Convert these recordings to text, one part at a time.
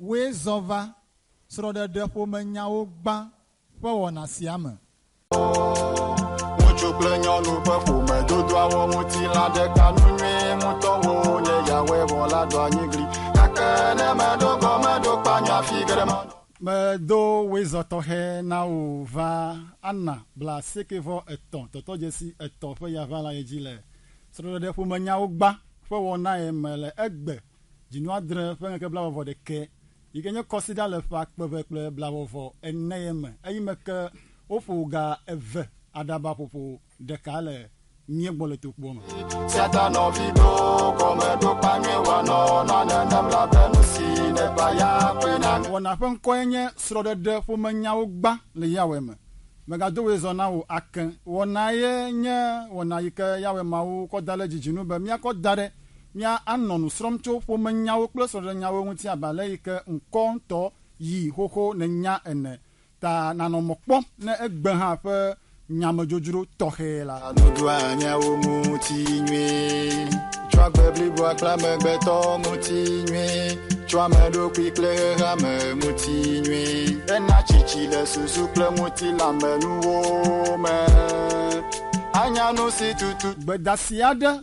Wòe zɔ va srɔ̃ɖeɖeƒomenyawo gbã ƒe wɔna sia me. Ŋutsu kple nyɔnu ƒe ƒomedodoawo ŋuti la ɖeka nu nyuie ŋutɔ woo nye Yahweh vɔ̃ la ɖo anyi gli. Gake ne meɖo gɔmeɖokpea nye afi geɖe manɔ. Medo wezɔ tɔxɛ na wò va Anna blaasieke-vɔ-etɔ̃ tɔtɔdzesi etɔ̃ ƒe yaʋalae dzi le srɔ̃ɖeɖeƒomenyawo gbã ƒe wɔnae me le egbe. Dzinu adre ƒe ŋkeke blaeve-vɔ ɖekɛ, yi ke nye kɔsiɖa le ƒe akpe eve kple blaeve-vɔ ene ye me. Eyime ke woƒo ga eve aɖaba ƒoƒo ɖeka le mía gbɔ le tokpoa me. Satan nɔvi ɖo gɔmeɖokpa nyui wanɔ na nenem labe nu si nèva ya kpli na mi. Wɔna ƒe ŋkɔe nye srɔ̃ɖeɖe ƒome nyawo gbã le Yahweh me. Mègado wòe zɔ na wò ake. Wɔnae nye wɔna yi ke Yahweh Mawu kɔ da ɖe dzi dzi nu be míakɔ da ɖe. Mía anɔ nu srɔm tso ƒomenyawo kple srɔɖenyawo ŋuti abe ale yi ke ŋkɔ ŋtɔ yi xoxo nènya ene, ta nanɔ mɔ kpɔm ne egbe hã ƒe nyamedzodzro tɔxɛ la. Sa nuɖoa nyawo ŋuti nyuie. Tsɔ agbe bliboa kple amegbetɔ ŋuti nyuie. Tsɔ ame ɖokui kple xexeame ŋuti nyuie. Ena tsitsi le susu kple ŋutilãmenuwo me. Anya nusi tutu. Gbedasi aɖe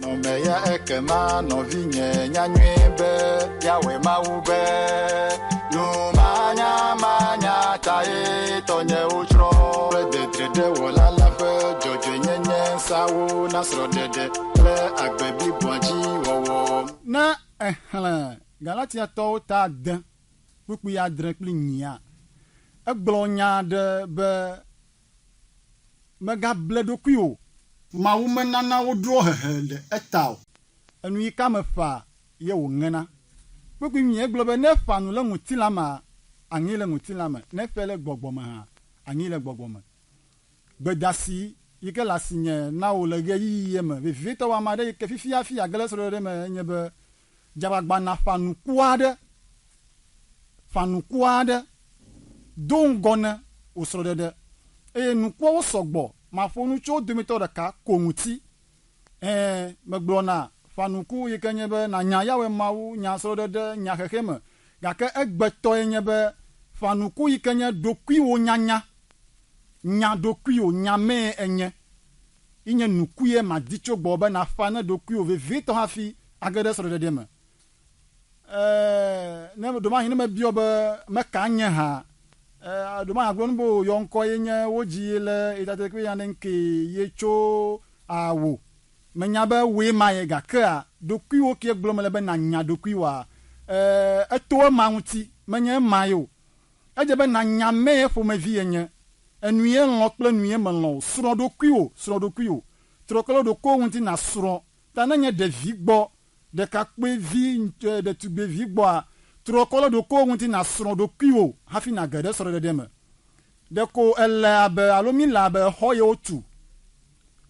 Nɔmeya ekema nɔvinye nya nyuie be Yahweh Mawu be nu manyamanya tae tɔnyewo tsrɔ̃ kple dedredewɔla la ƒe dzɔdzɔenyenye seawo na srɔ̃ɖeɖe kple agbe bliboa dzi wɔwɔ. Ne èxlẽ Galatiatɔwo ta ade kpukpui adre kple nyia, egblɔ nya aɖe be, Megable ɖokuiwò o. Mawu menana wodrɔ hehe ɖe eta o. Enu yi ka meƒã ye wòŋena. Kpukpui mie gblɔ be ne ƒã nu le ŋutilã mea, aŋee le ŋutilã me, ne ƒɛ le gbɔgbɔ me hã, aŋee le gbɔgbɔ me. Gbedasi yi ke le asinye na wò le ɣeyiɣi ye me vevitɔ wɔ ame aɖe yi ke fifiafi age le srɔ̃ɖeɖe me enye be dzagbagbanaa ƒã nuku aɖe, ƒã nuku aɖe, do ŋgɔ ne wò srɔ̃ɖeɖe, eye nukuawo sɔ gbɔ. Maƒo nu tso wo dometɔ ɖeka ko ŋuti. Ɛ̃, megblɔ na ƒã nuku yi ke nye be nànya Yahweh Mawu, nya srɔ̃ɖeɖe, nya xexeame. Gake egbetɔe nye be ƒã nuku yi ke nye ɖokuiwonyanya, nya ɖokuiwò, nya mee ènye, yi nye nukue madi tso gbɔwò be nàƒã ne ɖokuiwò vevietɔ hafi Age ɖe srɔ̃ɖeɖe me. E, ne ɖomahin ne me biɔ be me ka nye ha, e, ɖomahin agblɔ nu be o yɔ ŋkɔ ye nye wo dzi ye le etate kpe ya ne ŋke ye tso a wo. Me nya be woe ma ye ga ke a ɖokui wo kie gblɔ me le be na nya ɖokui wa. E, eto ema ŋuti, me nye ema ye o. Edze be na nya me ye ƒomevi ye nye, enu ye lɔ̃ kple enu ye me lɔ̃ o. Srɔ̃ɖokui wo, srɔ̃ɖokui wo. Trɔ kple ɖokuiwo ŋuti na srɔ̃ Ta ne nye ɖevi gbɔ, ɖekakpuivi ŋutɔe, ɖetugbivi gbɔa, trɔ kɔ ɖe ɖokuiwò ŋuti nàsrɔ̃ ɖokuiwò hafi nàge ɖe srɔ̃ɖeɖe me. Ɖeko èle abe alo míle abe xɔ ye wotu.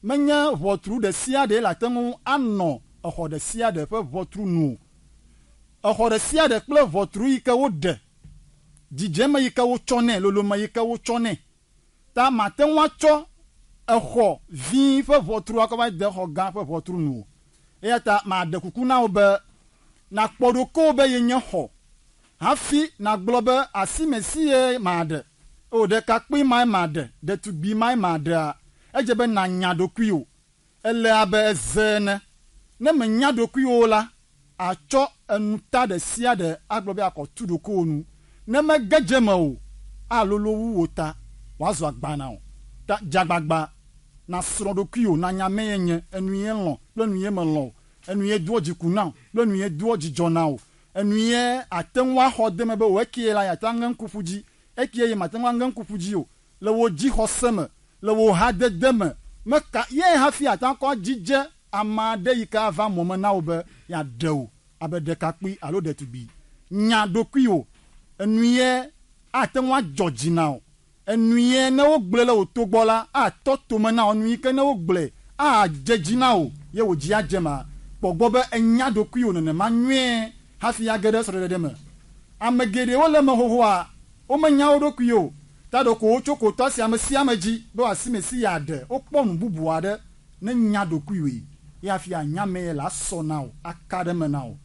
Menye ʋɔtru ɖe sia ɖee le ate ŋu anɔ exɔ ɖe sia ɖe ƒe ʋɔtru nu o. Exɔ ɖe sia ɖe kple ʋɔtru yi ke woɖe, dzidzeme yi ke wotsɔ nɛ, lolome yi ke wotsɔ nɛ. ta màte ŋu atsɔ exɔ vi ƒe ʋɔtru akɔ va de xɔ gã ƒe ʋɔtru nu o. Eya ta maɖe kuku na wò be nàkpɔ ɖokuiwò be yenye xɔ hafi nàgblɔ be, Asime sie maɖe, O, ɖekakpui mae maɖe, ɖetugbui mae maɖea? Edze be nànya ɖokuiwò. Ele abe eze ene, ne mènya ɖokuiwò o la, àtsɔ enuta ɖe sia ɖe agblɔ be akɔ tu ɖokuiwò nu. Ne mege dze eme o, alolo wu wò ta wòazu agba na wò. Ta dze agbagba nàsrɔ̃ ɖokuiwò, nànya mee nye, enuie lɔ̃ kple enuie melɔ̃ o, enuie doa dziku nam kple enuie doa dzidzɔ nam o, enuie àte ŋu axɔ de eme be wòe kee la, yeate ŋu aŋe ŋku ƒu dzi, ekee ye màte ŋu aŋe ŋku ƒu dzi o. le wò dzixɔse me, le wò hadede me. Meka ye hafi àte ŋu akɔ adzidze ame aɖe yi ke ava mɔ me na wò be yeaɖe wò abe ɖekakpui alo ɖetugbui? Nya ɖokuiwò. Enuie ate ŋu adzɔ dzi na wò. Enuie ne wogblɔe le wò to gbɔ la, atɔ to me na wò. Enu yi ke ne wogblɔe adze dzi na wò ye wò dzi adze ema. Kpɔ gbɔ be ènya ɖokuiwò nenema nyuie hafi age ɖe srɔ̃ɖeɖe me. Ame geɖewo le eme xoxoa Womenya wo ɖokui o, ta ɖeko wotso kotɔ si ame sia ame dzi be wòasi Mesia ɖe. Wokpɔ nu bubu aɖe, ne nya ɖokuiwòe, ye hafi ànya amee le asɔ na wò, aka ɖe eme na wò,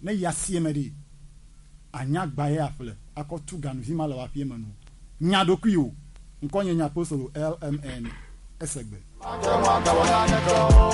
ne yi asie me ɖee, ànya agbã ye aƒle, akɔ tu ganuvi ma le wò aƒee me na wò. Nya ɖokuiwò. Ŋkɔnye nye apostolo LMN. Ese gbe. Mate ŋu agawɔ naneke o.